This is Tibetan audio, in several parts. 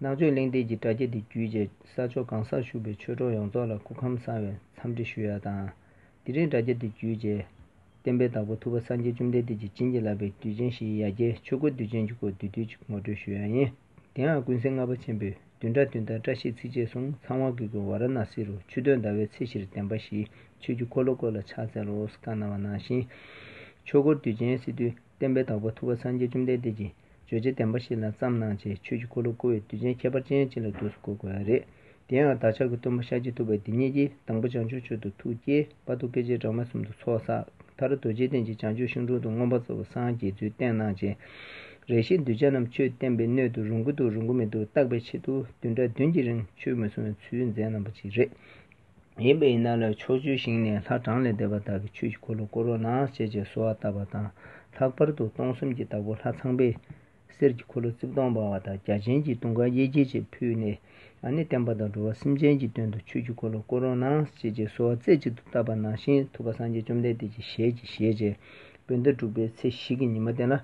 ནག་ཆུ་གླིང་སྟེགས་ཀྱི་དྲ་རྒྱ་འདི་བརྒྱུད་རྗེ་ས་ཕྱོགས་གང་སར་བཞུགས་པའི་ཆོས་གྲོགས་ཡོངས་རྫོགས་ལ་སྐུ་ཁམས་བཟང་བའི་འཚམས་འདྲི་ཞུ་ཡ་དང། དེ་རིང་དྲ་རྒྱ་འདི་བརྒྱུད་རྗེ་བསྟན་པའི་བདག་པོ་ཐུབ་པ་སངས་རྒྱས་བཅོམ་ལྡན་འདས་ཀྱི་བྱིན་གྱིས་བརླབས་པའི་དུས་ཆེན་བཞིའི་ཡ་གྱལ་ཆོས་འཁོར་དུས་ཆེན་གྱི་སྐོར་དུས་དུས་ཀྱི་ངོ་སྤྲོད་ཞུ་ཡ་ཡིན། དེའང་ཀུན་གཟིགས་ལྔ་པ་ཆེན་པོས་བདུན་ཕྲག་བདུན་ཟླ་བཀྲ་ཤིས་ཚིགས་བཅད་གསུམ་ཚང་བ་གུ་གུལ་བ་ར་ན་སི་རུ་ཆུ་སྟོད་ཟླ་བའི་ཚེས་བཞིར་བདེན་པ་བཞིའི་ཆོས་ཀྱི་འཁོར་ལོ་སྐོར་ལ་ཕྱག་འཚལ་ལོ་བསྐལ་ན་བ་ནང་བཞིན། ཆོས་འཁོར་དུས་ཆེན་སི་ཏུ་བསྟན་པའི་བདག་པོ་ཐུབ་པ་སངས་རྒྱས་བཅོམ་ལྡན་འདས་ཀྱིས་རྗོད་བྱེད་བདེན་པ་ཞིག་ལ་བརྩམས་གནང་བྱའི་ཆོས་ཀྱི་འཁོར་ལོ་བསྐོར་བའི་དུས་ཆེན་ཁྱད་པར་ཅན་ཅིག་ལ་དུས་སུ་གོ་དགོས་པ་རེད། དེ་ཡང་བདག་ཅག་གི་སྟོན་པ་ཤཱཀྱ་ཐུབ་པ་འདི་ཉིད་ཀྱིས་དང་པོ་བྱང་ཆུབ་ཆོས་དུ་ཐུགས་བསྐྱེད་དཔའ་ཐུགས་སྐད་ཅིག་སྦྲགས་མ་གསུམ་དུ་ཚོགས་བསགས། མཐར་རྡོ་རྗེ་གདན་གྱི་བྱང་ཆུབ་ཤིང་དྲུང་དུ་མངོན་པར་རྫོགས་པའི་སངས་རྒྱས་ཚུལ་བསྟན་གནང་བྱས། རེ་ཞིག་གདུལ་བྱ་རྣམས་ཆོས་བསྟན་པའི་སྣོད་དུ་རུང་གི་འདུག་རུང་གི་མི་འདུག་བརྟག་པའི་ཆེད་དུ་བདུན་ཕྲག་བདུན་གྱི་རིང་ཆོས་མི་གསུང་བའི་ཚུལ་མཛད་གནང་བ་ཅིག་རེད། ཡིན་པས་ཡིན་ན་ལ་ཕྱོགས་བཅུའི་ཞིང་ནས་ལྷ་གྲངས་ལས་འདས་པ་དག་གི་ཆོས་ཀྱི་འཁོར་ལོ་བསྐོར་རོ་ན་བྱེད་ཅེས་གསོལ་བ་བཏབ་པ་དང་ལྷག་པར་དུ་སྟོང་གསུམ་གྱི་བདག་པོ་ལྷ་ཚངས་པས་གསེར་གྱི་འཁོར་ལོ་རྩིབས་སྟོང་འབར་བ་དང་རྒྱ་ཆེན་གྱི་དུང་ཁ་གཡས་འགྱེད་བཅས་ཕུལ་ནས་ཨ་ནི་བསྟན་པ་དང་འགྲོ་བ་སེམས་ཅན་གྱི་དོན་དུ་ཆོས་ཀྱི་འཁོར་ལོ་བསྐོར་རོ་ན་བྱེད་ཅེས་གསོལ་བ་རྩེ་གཅིག་ཏུ་བཏབ་པ་ནང་བཞིན་ཐུབ་པ་སངས་རྒྱས་བཅོམ་ལྡན་འདས་ཀྱི་ཞལ་གྱིས་བཞེས། བོད་ཟླ་དྲུག་པའི་ཚེས་བཞི་གི་ཉི་མ་སྟན་ལ་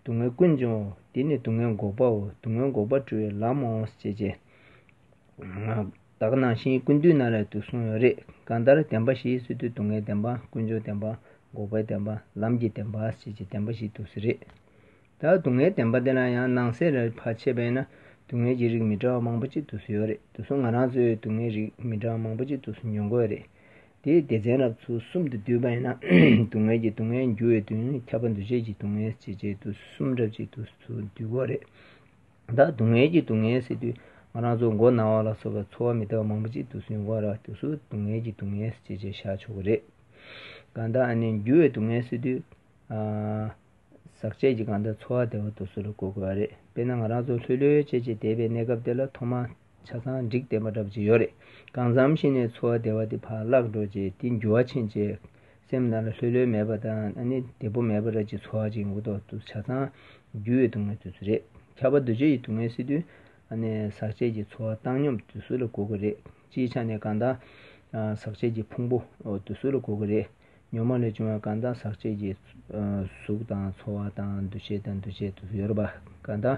སྡུག་བསྔལ་ཀུན་འབྱུང་བའོ། འདི་ནི་སྡུག་བསྔལ་འགོག་པའོ། སྡུག་བསྔལ་འགོག་པར་སྤྲོ་བའི་ལམ་མོ། ཞེས་བྱའི། བདག་སྣང་ཞིང་ཀུན་འདུས་ན་རེ་དུ་གསུངས་ཡོད་རེད། གང་ལྟར་བདེན་པ་བཞིའི་སི་ཏུ་སྡུག་བསྔལ་བདེན་པ་ཀུན་འབྱུང་བདེན་པ་འགོག་པའི་བདེན་པ་ལམ་གྱི་བདེན་པ་ཞེས་བྱའི་བདེན་པ་བཞི་འདུ་ས་རེད། ད་སྡུག་བསྔལ་བདེན་པ་འདི་ལ་ཡང་སྣང་གསལ་རེ་བ་ཆད་པས་ན་སྡུག་བསྔལ་གྱི་རིགས་མི་འདྲ་བ་མང་པོ་གཅིག་འདུ་ས་ཡོད་རེད་དུ་གསུངས་ང་རང་ཚོའི་སྡུག་བསྔལ་རིགས་མི་འདྲ་བ་མང་པོ་གཅིག་འདུ་ས་འབྱུང་དགོས་རེད། དེའི་སྡེ་ཚན་རབ་ཚུལ་གསུམ་དུ་བསྡུས་པ་ཡིན་ན། སྡུག་བསྔལ་གྱི་སྡུག་བསྔལ་འགྱུར་བའི་དོན་ཁྱབ་པ་འདུ་བྱེད་ཀྱི་སྡུག་བསྔལ་བྱེད་བྱེད་དུ་གསུམ་འདྲ་བྱེད་དུ་སུ་འདུས་པོ་རེད། བདག་སྡུག་བསྔལ་གྱི་སྡུག་བསྔལ་སེལ་དུས་ང་རང་ཚོ་མགོ་ན་བ་ལ་སོགས་པའི་ཚོར་བ་མི་དག་པ་མང་པོ་ཅིག་འདུག་སུན་དབང་རག་དུས་སུ་སྡུག་བསྔལ་གྱི་སྡུག་བསྔལ་བྱེད་བྱེད་བཞག་ཆོག་གི་རེད། གང་ལྟར་ཨ་ནི་འགྱུར་བའི་སྡུག་བསྔལ་སེལ་དུས། ཟག་བཅས་ཀྱི་གང་ལྟར་ཚོར་བ་བདེ་བ་དུ་སུ་ལ་གོ་དགོས་པ་རེད་དཔེར་ན་ང་རང་ཚོ་ལྷོད་ལྷོད་བྱེད་བྱེད་བསྡད་པའི་གནས་སྐབས་དེ་ལ་ཐོག་མ། ཆ་ཚང་འགྲིག་བསྡད་པ་འདྲ་བྱས་ཡོད་རེད། གང་བསམ་ཤེས་ནས་འཚོ་བ་བདེ་བ་དེ་ཕར་བརླག་འགྲོ་རྗེས་དེ་འགྱུར་བ་ཕྱིན་རྗེས། སེམས་ནང་ལ་ལྷོད་ལྷོད་མེད་པ་དང་ཨ་ནི་བདེ་པོ་མེད་པ་རེད་ཅེས་འཚོ་བ་ཅིག་འགོ་ཐོག་ཏུ་ཆ་ཚང་རྒྱུ་ཡི་དུས་ངན་དུས་ཚོད་རེད། ཁྱབ་པ་འདུ་བྱེད་ཀྱི་དུས་ངན་སྲིད་དུས་ཨ་ནི་ཟག་བཅས་ཀྱི་འཚོ་བ་བཏང་སྙོམས་དུས་སུ་ལ་གོ་གི་རེད། སྤྱིའི་ཆ་ནས་གང་ལྟར། ཟག་བཅས་ཀྱི་ཕུང་པོ་དུས་སུ་ལ་གོ་གི་རེད། ཉོན་མོངས་ལས་བྱུང་བ་གང་དག་ཟག་བཅས་ཀྱི་གཟུགས་དང་ཚོར་བ་དང་འདུ་བྱེད་དང་འདུ་བྱེད་དུ་ཡོད་པ་གང་དག་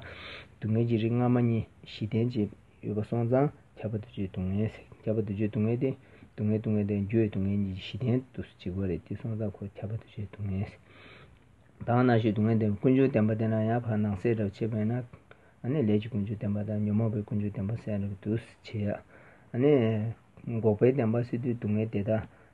སྡུག་བསྔལ་གྱི་རིགས་སྔ་མ་གཉིས་བཞི་ལྡན་གྱི་ཡོད་པ་སོང་ཙང་ཁྱབ་པ་འདུ་བྱེད་སྡུག་བསྔལ་ཁྱབ་པ་འདུ་བྱེད་སྡུག་བསྔལ་ཏེ། སྡུག་བསྔལ་སྡུག་བསྔལ་དང་རྒྱུ་བའི་སྡུག་བསྔལ་གཉིས་ཀྱི་བཞི་ལྡན་དུ་གཅིག་པ་རེད་དེ་སོང་ཙང་ཁོ་ཁྱབ་པ་འདུ་བྱེད་སྡུག་བསྔལ། དང་ན་གཞོན་སྡུག་བསྔལ་ལྡན་པའི་ཀུན་འབྱུང་བདེན་པ་དེ་ན་ཡང་བར་སྣང་གསལ་བསྒྲགས་བྱེད་པས་ན། ནས་ལས་ཀྱི་ཀུན་འབྱུང་བདེན་པ་དང་ཉོན་མོངས་པའི་ཀུན་འབྱུང་བདེན་པ་གསལ་བསྒྲགས་འདུ་བྱེད། ནས། འགོག་པའི་བདེན་པ་སྲིད་དུ་སྡུག་བསྔལ་དེ་དག་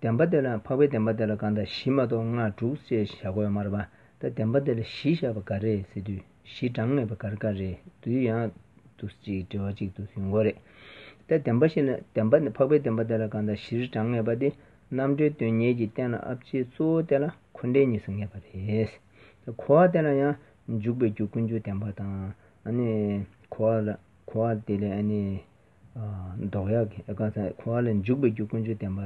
བདེན་པ་དེ་ལ་འཕགས་པའི་བདེན་པ་དེ་ལ་གང་དང་བཞི་མ་གཏོགས་ལྔ་དྲུག་ཅེས་བཞག་གོ་མར་པ་ད་བདེན་པ་དེ་ལ་བཞི་བཞག་པ་ག་རེད་ཟེར་དུས་བཞི་གྲངས་མེད་པ་གར་ག་རེད་དུས་ཡང་དུ་གཅིག་འབྲེལ་བ་གཅིག་ཏུ་ཡོང་གོ་རེད་ད་བདེན་པ་བཞི་ལ་བདེན་པ་འཕགས་པའི་བདེན་པ་དེ་ལ་གང་དང་བཞིར་གྲངས་ངེས་པ་དེ་རྣམ་གྲོལ་དོན་གཉེར་གྱི་རྟེན་ལ་ཨབ་ཅེས་གཙོ་བོ་དེ་ལ་འཁོར་འདས་གཉིས་སུ་ངེས་པ་རེད། གོ་བ་དེ་ལ་ཡང་འཇུག་པའི་རྒྱུ་ཀུན་འབྱུང་བདེན་པ་དང། གོ་བ་དེ་ལས། མདོག་ཡག་གི་ཀ་ཚ་ཁོ་ཨ་ལ་འཇུག་པའི་རྒྱུ་ཀུན་སྤྱོད་བསྟན་པ་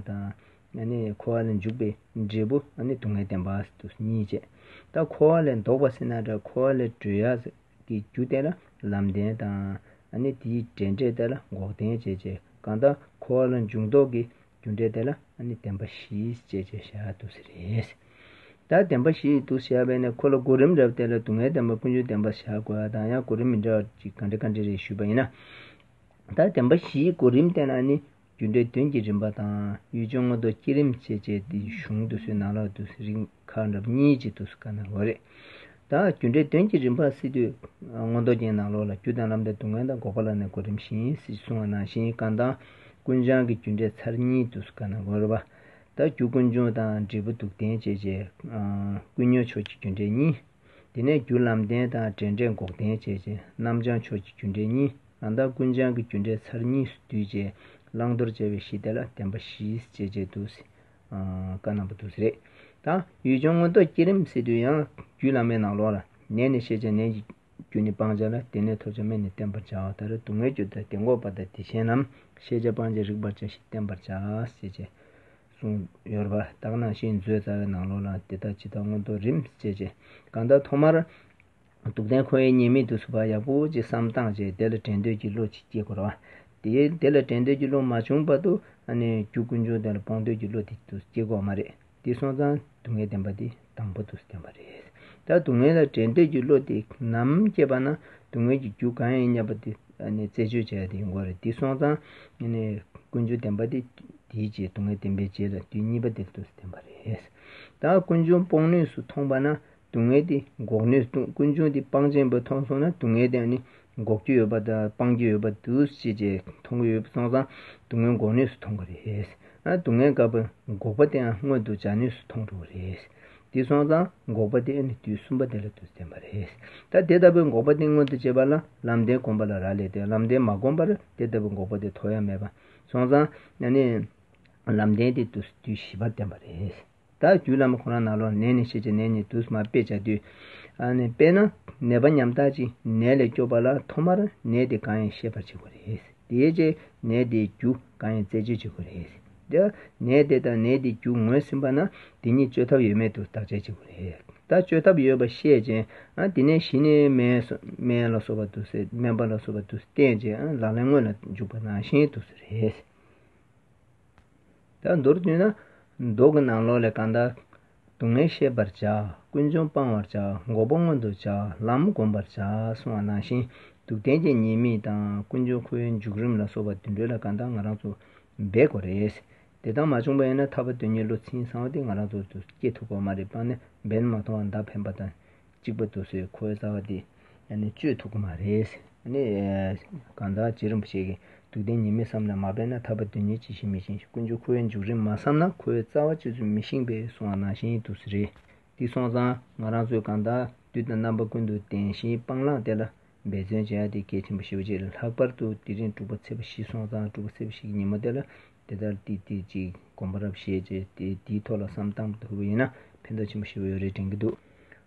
དང། ཁོ་ཨ་ལ་འཇུག་པའི་འབྲས་བུ་སྡུག་བསྔལ་བསྟན་པ་གཉིས་བྱས། ད་ཁོ་ཨ་ལ་འདོགས་པ་སེར་སྣ་འདྲ་ཁོ་ཨ་ལ་དྲོད་ཡག་ཟེར་གྱི་རྒྱུ་བསྟན་ལ་ལམ་བསྟན་དང། དེའི་འབྲེལ་འབྲས་བསྟན་ལ་འགོག་བསྟན་བྱས་རྗེས་གང་ལྟར་ཁོ་ཨ་ལ་འཇུག་མདོག་གི། རྒྱུ་འབྲས་དེ་ལ་བདེན་པ་བཞིའི་སྤྱད་ཅེས་བྱ་བ་དུ་ཟེར། ད་བདེན་པ་བཞིའི་དུ་བྱ་བས་ནི་ཁོ་ལ་གོ་རིམ་རབ་བལྟས་ལ་སྡུག་བསྔལ་བདེན་པ་ཀུན་སྤྱོད་བདེན་པར་བྱ་དགོས་པ་དང་ཡང་གོ་རིམ་མི་འདྲ་བ་གཅིག་ག་འདྲ་ག་འདྲ་རེད་ཞུས་པ་ཡིན་ན། ད་བདེན་པ་བཞིའི་གོ་རིམ་བལྟས་ན་ནི་རྒྱུ་འབྲས་དོན་གྱི་རིམ་པ་དང་ཡུལ་ལྗོངས་མངོན་རྟོགས་བསྐྱེད་རིམ་བཅས་སྤྱད་དེ་གཞུང་དུ་སོའི་ནང་ལོགས་དུ་རིགས། ཁ་འདབ་གཉིས་གཅིག་ཏུ་བཀར་ན་འོས་རེད། ད་རྒྱུ་འབྲས་དོན་གྱི་རིམ་པར་སྲིད་དུས་སྔོན་རྡོ་རྒྱན་ནང་ལོགས་ལ་རྒྱུ་དང་ལམ་དང་སྡུག་བསྔལ་དང་འགོག་པ་ལ་ནི་གོ་རིམ་བཞིན་སྲིད་ཅེས་གསུང་བ་ནང་བཞིན་རྐང་ཐང་ཀུན་བྱང་གི་རྒྱུ་འབྲས་ཚར་གཉིས་ཏུ་བཀར་ན་འོས་རེད། ད་རྒྱུ་ཀུན་འབྱུང་དང་འབྲས་བུ་སྡུག་བདེན་བཅས་བྱས། ཀུན་ཉོན་ཕྱོགས་ཀྱི་རྒྱུ་འབྲས་གཉིས། དེ་ནས་རྒྱུ་ལམ་བདེན་དང་འབྲས་འབྲས་འགོག་བདེན་བཅས་བྱས། རྣམ་བྱང་ཕྱོགས་ཀྱི་རྒྱུ་འབྲས་གཉིས་རང་ཐང་ཀུན་བྱང་གི་རྒྱུ་འབྲས་ཚར་གཉིས་སུ་བསྡུས་བྱས་བླང་དོར་བཅའ་བའི་གཞི་དེ་ལ་བདེན་པ་བཞི་ཅེས་བྱས་འདུག་བཀའ་གནང་བ་དུ་ཟེར་རེད་དང། ཡུལ་ལྗོངས་མངོན་རྟོགས་བསྐྱེད་རིམ་སེལ་དུས་ཡང་རྒྱུད་བླ་མའི་ནང་ལོགས་ལ། ནད་ནི་ཤེས་བྱ་ནད་ཀྱི་རྒྱུ་ནི་སྤང་བྱ་ལ་དེ་ནས་ཐོབ་བྱ་སྨན་ནི་བསྟེན་པར་བྱའོ་ད་རེས་སྡུག་བསྔལ་རྒྱུ་དང་དེ་འགོག་པ་དང་དེ་བྱེད་རྣམས་ཤེས་བྱ་སྤང་བྱ་རིག་པར་བྱ་ཞིང་བསྟེན་པར་བྱ། ཞེས་བཅས་གསུངས་ཡོད་པར་བརྟགས་ན་ཤིང་མཛོད་རྩ་བའི་ནང་ལོགས་ལ་འདི་དག་ཇི་ལྟར་མངོན་རྟོགས་རིམ་བཅས་བྱེད། གང་ལྟར་ཐོག་མར། སྡུག་བདེན་ཁོ་ཡི་ཉེས་མེད་དུ་ཚུད་པ་ཡག་པོ་ཅིག་བསམ་སྟངས་ཅིག་དེ་ལ་དྲན་འདོད་ཀྱི་བློ་ཅིག་སྐྱེ་དགོས། དེ་དེ་ལ་དྲན་འདོད་ཀྱི་བློ་མ་བྱུང་བར་དུ་རྒྱུ་ཀུན་འབྱུང་དེ་ལ་སྤོང་འདོད་ཀྱི་བློ་དེ་དུ་སྐྱེ་དགོས་མ་རེད། དེ་སོང་ཙང་སྡུག་བསྔལ་བདེན་པ་དེ་དང་པོ་དུ་བསྟན་པ་རེད། ད་སྡུག་བསྔལ་ལ་དྲན་འདོད་ཀྱི་བློ་དེ་ནམ་སྐྱེས་པ་ན་སྡུག་བསྔལ་གྱི་རྒྱུ་གང་ཡིན་སྙམ་པ་དེ་རྩད་གཅོད་བྱ་ཡ་དེ་ཡིན་དགོས་རེད། དེ་སོང་ཙང་ཀུན་འབྱུང་བདེན་པ་དེ་དེའི་རྗེས་སྡུག་བསྔལ་བདེན་པའི་རྗེས་ལ་དུས་གཉིས་པ་དེ་དུ་བསྟན་པ་རེད། ད་ཀུན་འབྱུང་སྤོང་ནུས་སུ་མཐོང་པ་ན། སྡུག་བསྔལ་དེ་འགོག་ནུས་སྟོང་ཀུན་འབྱུང་དེ་སྤང་ཆེན་པོས་མཐོང་སོང་ན་སྡུག་བསྔལ་དེ་ནི་འགོག་རྒྱུ་ཡོད་པ་དང་སྤང་རྒྱུ་ཡོད་པ་འདུག་ཅེས་ཀྱི་མཐོང་གི་ཡོད་པ་སོང་ཙང་སྡུག་བསྔལ་འགོག་ནུས་སུ་མཐོང་གི་རེད། སྡུག་བསྔལ་དགག་པའི་འགོག་པ་དེའང་མངོན་དུ་བྱ་ནུས་སུ་མཐོང་འགྲོ་གི་རེད། དེ་སོང་ཙང་འགོག་པ་དེ་ནི་དུས་གསུམ་པ་དེ་ལ་དུ་བསྟན་པ་རེད། ད་དེ་ལྟ་བུའི་འགོག་པ་དེ་མངོན་དུ་བྱེད་པ་ལ་ལམ་བདེན་བསྒོམ་པ་ལ་རག་ལས་ཏེ་ལམ་བདེན་མ་བསྒོམ་པར་དེ་ལྟ་བུའི་འགོག་པ་དེ་དོར་ཡ་མེད་པ་སོང་ཙང་ལམ་བདེན་དེ་དུས་བཞི་པར་བསྟན་པ་རེད། དག་རྒྱུ་ལམ་ཁོ་ན་ན་ལོག་ནད་ནི་ཤེས་བྱ་ནད་ནི་དུ་མ་དཔེ་བྱ་དུས། དཔེར་ན་ནད་པ་ཉམ་ཐག་ཅིག་ནད་ལས་སྐྱོབ་པ་ལ་ཐོག་མར་ནད་དེ་གང་ཡིན་ཤེས་པར་བྱེད་དགོས་རེད། དེའི་རྗེས་ནད་དེའི་རྒྱུ་གང་ཡིན་རྩད་གཅོད་བྱེད་དགོས་རེད། དེ་ནད་དེ་དང་ནད་དེའི་རྒྱུ་ངོས་ཟིན་པ་ན་དེ་གཉིས་བཅོས་ཐབས་ཡོད་མེད་དུ་བརྟག་དཔྱད་བྱེད་དགོས་རེད། ད་བཅོས་ཐབས་ཡོད་པ་ཤེས་རྗེས་དེ་ནས་གཞི་ནས་སྨན་ལ་སོགས་པ་དུ་སེལ་སྨན་པ་ལ་སོགས་པ་དུ་བསྟེན་རྗེས་ལག་ལེན་དངོས་ལ་འཇུག་པ་ནང་བཞིན་དུ་རེད། ད་མདོར་བསྡུ་ན། མདོག་གི་ནང་ལོགས་ལས་གང་དག། སྡུག་བསྔལ་ཤེས་པར་བྱ། ཀུན་འབྱུང་སྤང་བར་བྱ། འགོག་པ་མངོན་དུ་བྱ། ལམ་བསྒོམ་པར་བྱ། གསུང་བ་ནང་བཞིན་དུ་གཏན་བརྒྱད་ཉེས་དམིགས་དང་ཀུན་འབྱུང་ཁོའི་འཇུག་རིམ་ལ་སོགས་པ་དུད་འགྲོའི་ལ་གང་དག་ང་རང་ཚོ་རྦད་དགོས་རེད། དེ་དག་མ་བྱུང་པ་ཡིན་ན་ཐར་པ་དོན་གཉེར་བློ་ཚིམ་གསང་བ་དེ་ང་རང་ཚོ་ཚོ་སྐྱེ་ཐུབ་པ་མ་རེད་པང་ནས་འབེན་མ་ཐོང་བ་མདའ་འཕེན་པ་དང་གཅིག་པ་དུ་སོའི་ཁོའི་རྩ་བ་འདི་གཅོད་ཐུབ་ཀྱི་མ་རེད། གང་ལྟར་རྗེ་རིན་པོ་ཆེ་གིས་དུས་གཏན་ཉིད་མི་བསམ་ལ་མ་འབད་ན་ཐར་པ་དོན་གཉེར་ཅི་ཞིག་མི་བྱིན་ཞིང་ཀུན་སྤྱོད་ཁོ་བོའི་མཇུག་རིང་མ་བསམ་ན་ཁོའི་རྩ་བ་ཅི་ཚུལ་མི་ཤེས་པའི་སོང་བ་ནང་བཞིན་དུ་སུ་རེད་འདི་སོང་ཙང་ང་རང་ཚོས་གང་དག་དུས་དང་རྣམ་པ་ཀུན་ཏུ་བདེན་བཞིའི་སྤང་བླང་བསྟེན་ལ་འབད་བརྩོན་བྱ་ཡ་འདི་གལ་ཆེན་པོ་ཤེས་པ་བྱས་ལྷག་པར་དུ་དེ་རིང་དྲུག་པ་ཚེས་པ་བཞི་སོང་ཙང་དྲུག་པ་ཚེས་པ་བཞི་གི་ཉིན་མོ་དེ་ལ་དེ་ལྟར་ཏིག་ཏིག་ཅིག་སྒོམ་པ་རབ་བཤད་ཅེས་དེ་དེའི་ཐོག་ལ་བསམ་གཏམ་བསྡུ་བ་ཡིན་ན་ཕན་ཐོགས་ཆེན་པོ་ཞེ་བོ་ཡོད་རེ་དྲན་གྱི་འདུག་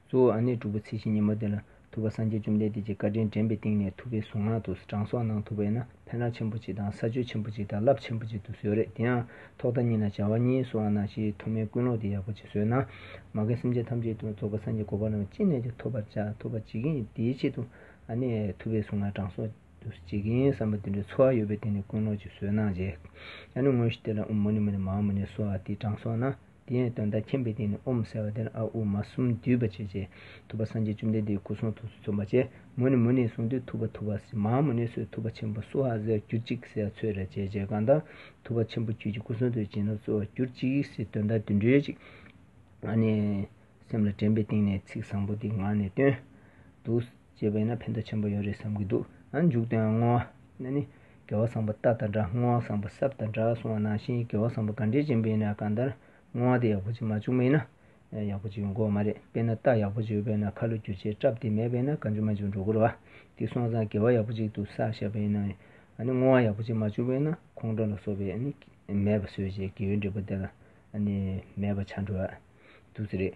གཙོ་བོ་ཨ་ནེ་དྲུག་པོ་ཚེས་བཞི་ཉིན་མོ་དེ་ལ་ཐུབ་པ་སངས་རྒྱས་བཅོམ་ལྡན་འདས་ཀྱི་བཀའ་དྲིན་དྲན་པའི་སྟེང་ནས་ཐུབ་པའི་གཟུངས་སྔགས་དུ་གྲངས་གསོག་གནང་ཐུབ་པ་ཡིན་ན་ཕན་རང་ཆེན་པོ་ཅིག་དང་ས་ཆོད་ཆེན་པོ་ཅིག་དང་རླབས་ཆེན་པོ་ཅིག་ཏུ་བཟོས་རེད་དེ་ཡང་ཐོག་མཐའ་གཉིས་ན་བྱ་བ་གཉིས་སུའང་ནང་བཞིའི་མཐོ་དམན་ཀུན་སློང་དེ་ཡག་པོ་ཅིག་བཟོས་ན་མ་རྒན་སེམས་ཅན་ཐམས་ཅད་དུ་རྫོགས་པ་སངས་རྒྱས་གོ་འཕང་རྣམས་ཅི་ནས་ཀྱང་ཐོབ་པར་བྱ་ཐུབ་པ་བྱེད་ཀྱི་ཡིན་དེའི་ཆེད་དུ་ཨ་ནེ་ཐུབ་པའི་གཟུངས་སྔགས་གྲངས་གསོག། དུ་བྱེད་ཀྱིན་བསམ་པ་དེ་འདྲའི་ཚོར་བ་ཡོད་པས་དེ་ནི་ཀུན་སློང་གཅིག་བཟོས་གནང་རྗེས། ཨ་ནུ་དངོས་གཞི་དེ་ལ་ཨུ་མུ་ནི་མུ་ནི་མ་ཨ་མུ་ནི་སོགས་ཨ་ཏིའི་གྲངས་སོགས་ན། དེ་ཡང་དོན་དག་མཁྱེན་པས་དེ་ནི་ཨོ་མུ་ཟེར་བ་དེར་ཨ་ཨུ་མ་གསུམ་བསྡུས་པ་བྱས་རྗེས་ཐུབ་པ་སངས་རྒྱས་བཅོམ་ལྡན་འདས་སྐུ་གསུང་ཐུགས་སུ་བརྩོན་པ་བྱས། མུ་ནི་མུ་ནི་གསུང་དུས་ཐུབ་པ་ཐུབ་པ་སི་མ་མུ་ནི་སོས་ཐུབ་པ་ཆེན་པོ་སུ་ཧ་ཟས་གྱུར་ཅིག་སེ་ཨ་ཚོས་རེ་བྱས་རྗེས་གང་ལྟར་ཐུབ་པ་ཆེན་པོ་རྒྱུད་ཀྱི་སྐུ་གསུང་ཐུགས་བྱིན་རླབས་སྩོལ་བར་གྱུར་ཅིག་སེ་དོན་དག་དུད་འགྲོའི་ཅིག། ཨ་ནི། སེམས་ལ་དྲན་པའི་སྟེང་ནས་ཚིག་བཟང་པོ་འདི་ངག་ནས་བཏོན། དུ། ཅེས་པས་ན་ཕན་བདེ་ཆེན་པོ་ཡོད་རེད་བསམ་གྱི་འདུག་ཨ་མཇུག་དོན་བསྔོ་བ་ནི་ནི། དགེ་བ་བཟང་པོ་རྟགས་དང་འདྲ་བསྔོ་བ་བཟང་པོ་སྲབ་དང་འདྲ་གསུང་བ་ནང་བཞིན་དགེ་བ་བཟང་པོ་ག་འདྲའི་ཅན་པས་ན་གང་ལྟར་བསྔོ་བ་དེ་ཡག་པོ་ཅིག་མ་བྱུང་བས་ན། ཡག་པོ་ཅིག་ཡོང་དགོས་བ་མ་རེད་དཔེར་ན་རྟགས་ཡག་པོ་ཅིག་ཡོད་པས་ན་ཁ་ལོ་སྒྱུར་བྱེད་སྐྲབ་དེ་མེད་པས་ན་ག་འཇུག་མ་འཇུག་འགྲོ་དགོས་རེད་བ། དེ་སོང་ཙང་དགེ་བ་ཡག་པོ་ཅིག་ཏུ་བསགས་ཤ་བས་ན། ནི་བསྔོ་བ་ཡག་པོ་ཅིག་མ་བྱུང་བས་ན་ཁོང་ཁྲོ་ལ་སོགས་པའི་ནི། མེད་པ་བཟོས་བྱས་དགེ་བའི་འབྲས་བུ་དེ་ལ་ནི་མེད་པ་བྱ་འགྲོ་བ། དུ་ཙི་རེད།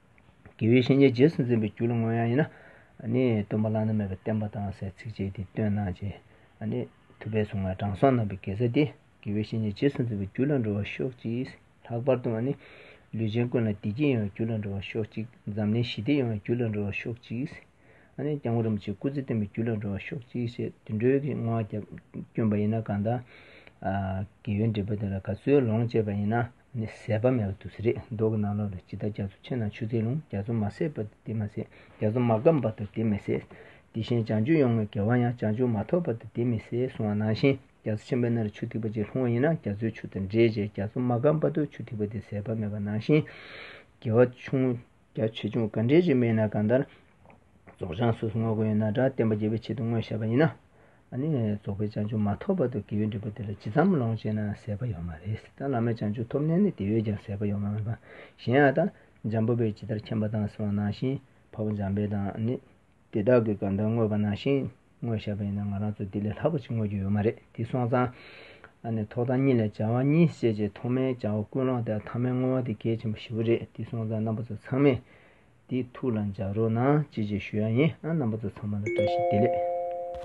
དགེ་བའི་བཤེས་གཉེན་རྗེས་སུ་འཛིན་པའི་རྒྱུ་ལ་མངོན་ཡང་ཡིན་ན། སྟོན་པ་བླ་ན་མེད་པའི་བསྟན་པ་དང་སའི་ཚིགས་བཅད་འདི་སྟོན་གནང་བྱས། ཐུབ་པའི་གཟུངས་ལྔའི་དྲང་སྲོང་རྣམ་པའི་དགེ་རྩ་འདི། དགེ་བའི་བཤེས་གཉེན་རྗེས་སུ་འཛིན་པའི་རྒྱུ་ལ་འགྲོ་བར་ཤོག་ཅིག། ལྷག་པར་དུ། ལུས་ཅན་ཀུན་ལ་བདེ་སྐྱིད་ཡོང་བའི་རྒྱུ་ལ་འགྲོ་བར་ཤོག་ཅིག། འཛམ་གླིང་ཞི་བདེ་ཡོང་བའི་རྒྱུ་ལ་འགྲོ་བར་ཤོག་ཅིག། སྐྱབས་མགོན་རིན་པོ་ཆེའི་སྐུ་ཚེ་བརྟན་པའི་རྒྱུ་ལ་འགྲོ་བར་ཤོག་ཅིག་ཅེས་དུད་འགྲོའི་སྔོན་བསྐྱོན་པ་ཡིན་ན་གང་དང། དགེ་བའི་འབྲས་བུ་དེ་ལ་ག་ཚོད་ལོངས་སྤྱད་པ་ཡིན་ན། ནི་ཟད་པ་མེད་པ་དུ་ཟེར། མདོག་གི་རྣ་ལོག་ལ་ཇི་ལྟར་རྒྱ་མཚོ་ཆེ་ན་ཆུ་རྩེའི་ཀླུང་རྒྱ་མཚོ་མ་ཟད་པ་དུ་དེ་མ་ཟད་རྒྱ་མཚོ་མ་སྐམ་པ་དུ་དེ་མི་ཟད། དེ་བཞིན་བྱང་ཆུབ་ཡོངས་ཀྱི་བ་ཡང་བྱང་ཆུབ་མ་ཐོབ་པ་དུ་དེ་མི་ཟད་གསུང་བ་ནང་བཞིན་རྒྱ་མཚོ་ཆེན་པོའི་སྣ་རུ་ཆུ་ཐིགས་པ་གཅིག་ལྷུང་བ་ཡིན་ན་རྒྱ་མཚོའི་ཆུ་དང་འདྲེས་བྱས་རྒྱ་མཚོ་མ་སྐམ་པ་དུ་ཆུ་ཐིགས་པ་དེ་ཟད་པ་མེད་པ་ནང་བཞིན། དགེ་བ་ཆུང་ངུ། རྒྱ་ཆོས་འབྱུང་ག་འདྲའི་ཞིག་སྨྲས་ན་གང་ལྟར། རྫོགས་བྱང་སོ་སོ་དངོས་པོ་ཡོད་ན་སྒྲ་བསྟན་པ་རྒྱས་པའི་ཆེད་དུ་དངོས་བཤད་པ་ཡིན་ན། ནི་རྫོགས་པའི་བྱང་ཆུབ་མ་ཐོབ་བར་དུ་དགེ་བའི་འབྲས་བུ་དེ་ལ་ཇི་ཙམ་ལོངས་སྤྱད་ན་ཟད་པ་ཡོད་མ་རེད་ད་བླ་མའི་བྱང་ཆུབ་ཐོབ་ནས་ནི་དེ་བས་ཀྱང་ཟད་པ་ཡོད་མ་རེད་པ་གཞན་ཡང་ད། འཇམ་པོ་པས་ཇི་ལྟར་མཁྱེན་པ་དང་གསང་བ་ནང་བཞིན་བར་བུ་འཇམ་དཔལ་དང་ནི། དེ་དག་གི་དགའ་འདུན་དངོས་པོ་ནང་བཞིན་དངོས་བཞག་པ་ཡིན་ན་ང་རང་ཚོ་དེ་ལས་ལྷག་པ་ཅིག་དངོས་རྒྱུ་ཡོད་མ་རེད་དེ་སོང་ཙང། ཨ་ནི་ཐོག་མཐའ་གཉིས་ལས་བྱ་བ་གཉིས་བཤད་ཅེས་ཐོག་མའི་བྱ་བ་ཀུན་སློང་དེ་ཨ་ཐ་མའི་བསྔོ་བ་དེ་གལ་ཆེན་པོ་བཞི་བོ་རེད་དེ་སོང་ཙང་རྣམ་པ་ཚོ་ཚང་མས་དེ་ཐུགས་ལ་འཇགས་རོགས་གནང་ཅེས་ཅེས་ཞུ་ཡག་ཡིན་ཨ་རྣམ་པ་ཚོ་ཚང་མ་ལ་བཀྲ་ཤིས་བདེ་ལེགས།